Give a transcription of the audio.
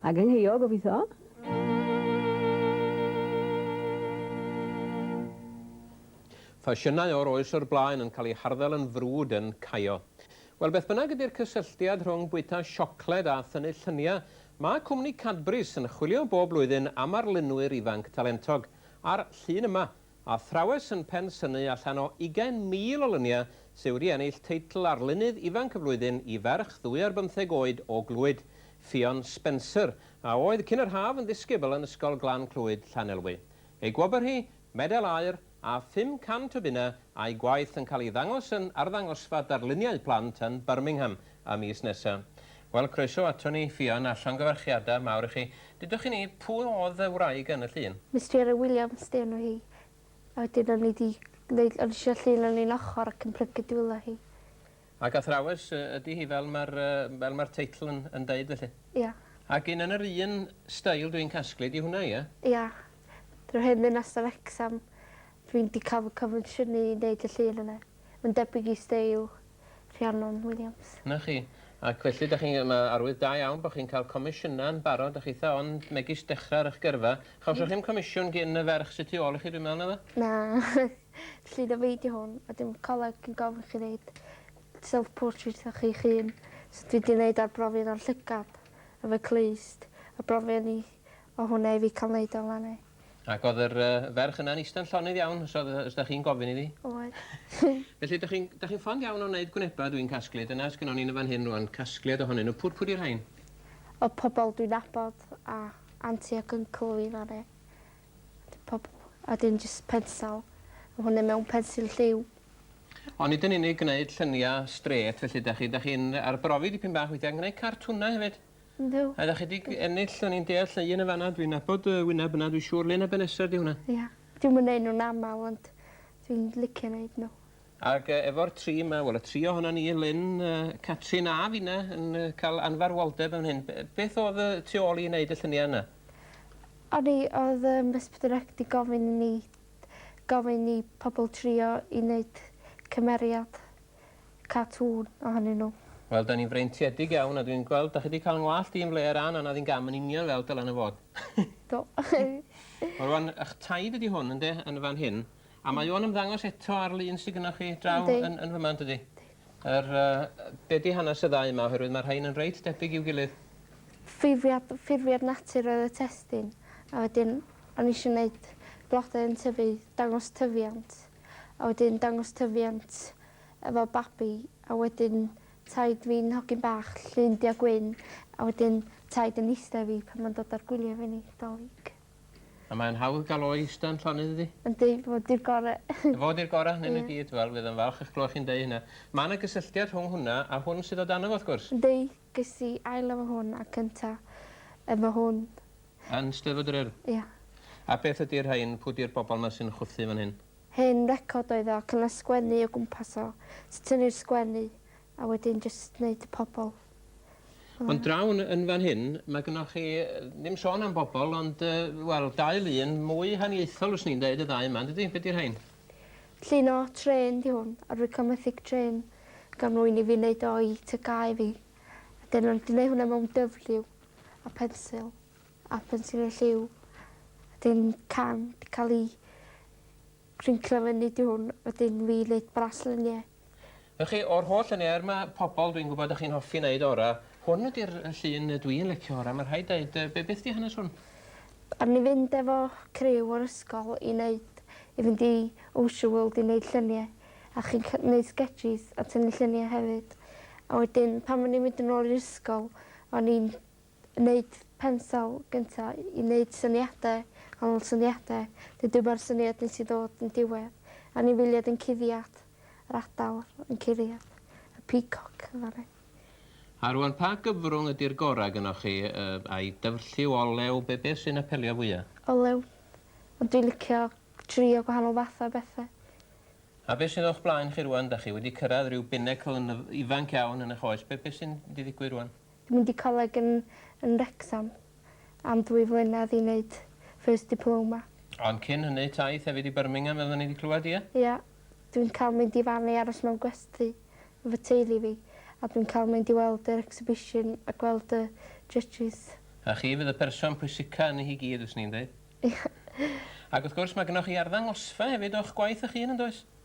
Ag yn ngheuo, gobitho. Ffasiynau o'r oes o'r blaen yn cael eu harddel yn frwd yn caio. Wel, beth bynnag ydy'r cysylltiad rhwng bwyta siocled a thynnu lluniau, mae cwmni Cadbury's yn chwilio bob blwyddyn am arlunwyr ifanc talentog, a'r llun yma Athrawes yn Pen Synnu allan o 20,000 o luniau sy wedi ennill teitl Arlunydd Ifanc y Flwyddyn i ferch ddwy ar bymtheg oed o Glwyd, Ffion Spencer, a oedd cyn yr haf yn ddisgybl yn Ysgol Glan Clwyd, Llanelwy. Ei gwobr hi, medal aur, a 500 o bunnau, a'i gwaith yn cael ei ddangos yn arddangosfa darluniau plant yn Birmingham y mis nesaf. Wel, croeso ato ni, Ffion, a llongyfarchiadau mawr i chi. Dudwch chi ni, pwy oedd y wraig yn y llun? Mister Williams 'di enw hi. A wedyn o'n i 'di neud o'n i isio llun o'n un ochor ac yn plygu dwylo hi. Ac athrawes ydi hi fel ma'r yy fel ma'r teitl yn yn deud felly? Ia. Ac un yn yr un steil dwi'n casglu 'di hwnna ia? Ia. Yr hen ddinas yn Wrecsam. Dwi'n 'di ca'l fy confensiynnu i neud y llun yna. Ma'n debyg i steil Rhiannon Williams. 'Na chi. Ac felly 'dach chi'n... Mae arwydd da iawn bo' chi'n cael comisiynau yn barod, 'dach chitha ond megis dechra ar 'ych gyrfa. Chawsoch chi'm comisiwn gin y ferch sy tu ôl i chi dwi'n me'wl naddo? Na. Felly do fi 'di hwn a dim coleg yn gofyn chi neud self portrait o chi'ch hun. So dwi 'di neud arbrofi yno'n llygad efo'u clust a brofi ynni o hwnna i fi ca'l neud o lan 'ne. Ac oedd yr yy ferch yna'n ista'n llonydd iawn os oedd yy os 'dach chi'n gofyn iddi. Oedd. Felly 'dach chi'n 'dach chi'n fond iawn o neud gwneba dwi'n casglu dyna sgynnon ni yn y fan hyn rŵan casgliad ohonyn nw pw- pw' 'di rhein? Y pobol dwi'n nabod a aunty ac uncle fi ddaru d- pob- a 'dyn jyst pensel ma' hwnne mewn pensil lliw. O nid yn unig gneud llynia strêt felly 'dach chi 'dach chi'n yy arbrofi dipyn bach weithia' yn gneud cartwnau hefyd? Yndw. A 'dach chi 'di g- ennill o'n i'n deall y un yn fan 'na dwi'n nabod y wyneb yna dwi siŵr Lena Ben Reser 'di hwnna. Ia. Dwi'm yn neud nw'n amal ond dwi'n licio neud n'w. Ag yy efo'r tri 'ma wel y tri ohonon ni Elin yy Catrin a finne yn yy ca'l anfarwoldeb yn hyn be- beth o'dd y tu ôl i neud y llunia' yna? O'n i odd yym Resbiradac 'di gofyn i ni gofyn i pobol trio i neud cymeriad. cartŵn ohonyn nhw. Wel 'da ni'n freintiedig iawn a dwi'n gweld 'da chi 'di ca'l 'ngwallt i yn flêr a nana ddi'n gam yn union fel dylan e fod. Do. Wel rŵan 'ych taid ydi hwn ynde yn fan hyn a mae o'n ymddangos eto ar lun sy gynnoch chi draw yn yn fyma yndydi? Yr yy be' 'di hanes y ddau yma oherwydd ma' rhein yn reit debyg i'w gilydd. Ffurfiad ffurfiad natur oedd y testun a wedyn o'n i isio neud blode yn tyfu dangos tyfiant. a wedyn dangos tyfiant efo babi a wedyn taid fi'n hogyn bach llun du a gwyn a wedyn taid yn iste i fi pan ma'n dod ar gwylie fi ni, 'Dolig. A mae'n hawdd gael o i ista yn llonydd iddi? Yndi, fo 'di'r gore. Fo 'di'r gore ohonyn nhw i gyd. Wel, fydd o'n falch eich clywed chi'n deud hynna. Ma' 'na gysylltiad rhwng hwnna a hwn sydd o dano fo wrth gwrs. Yndi, Ges i ail efo hwn a cynta efo hwn. Yn Steddfod yr Urdd? Ia. A beth ydi rhain? Pw di'r bobol ma sy'n chwthu fan hyn? Hen record oedd o ac o' 'na sgwennu o gwmpas o. Ti tynnu'r sgwennu a wedyn jyst neud y pobol. Ond draw yn yn fan hyn ma' gynnoch chi ddim sôn am bobol ond yy wel dau lun mwy haniaethol fyswn i'n deud y ddau yma yndydi? Be' 'di rhain? Llun o trên 'di hwn a rwy'n cael methu'r trên gan rwy'n i fi neud o i tŷ Cae fi a dyn nhw'n gneud hwnna mewn dyfrlliw a phensil a phensil y lliw a dyn can 'di cael i grinclo fyny 'di hwn wedyn fi neud braslunio. Felly chi o'r holl luniau er ma' pobol dwi'n gwybod dach chi'n hoffi neud ora hwn ydi'r yy llun yy dwi'n licio ora ma' rhaid deud yy be' beth di hanes hwn? O'n ni fynd efo criw o'r ysgol i neud i fynd i Ocean World i neud llunie a chi'n cy- neud sgetsîs a tynnu llunie hefyd a wedyn pan o'n ni'n mynd yn ôl i'r ysgol o'n ni'n Wneud pensel gynta i neud syniade, canol syniade, neu dyma'r syniad nes i ddod yn diwedd, anifeiliad yn cuddiad, yr adar yn cuddiad, y peacock yn fan 'na. A rwan pa gyfrwng ydi'r gora gynnoch chi yy ai dyfrlliw, olew, be be sy'n apelio fwya? Olew. Ond dwi licio trio gwahanol fath o bethe. A be sydd o'ch blaen chi rwan, 'dach chi wedi cyrradd ryw binnacle yn yf- ifanc iawn yn y'ch oes, be be sy'n mynd i ddigwydd rwan? Dwi'n mynd i coleg yn yn Wrecsam am ddwy flynedd i neud First Diploma. Ond cyn hynny, taith hefyd i Birmingham fel oedden ni 'di clywed, ie? Ie. Dwi'n cael mynd i fan i aros mewn gwesty efo teulu fi a dwi'n cael mynd i weld yr exhibition a gweld y judges. A chi fydd y person pwysica yni hi gyd fyswn i'n deud. Ie. Ac wrth gwrs, mae gynnoch chi arddangosfa hefyd o'ch gwaith 'ych hun, yn does?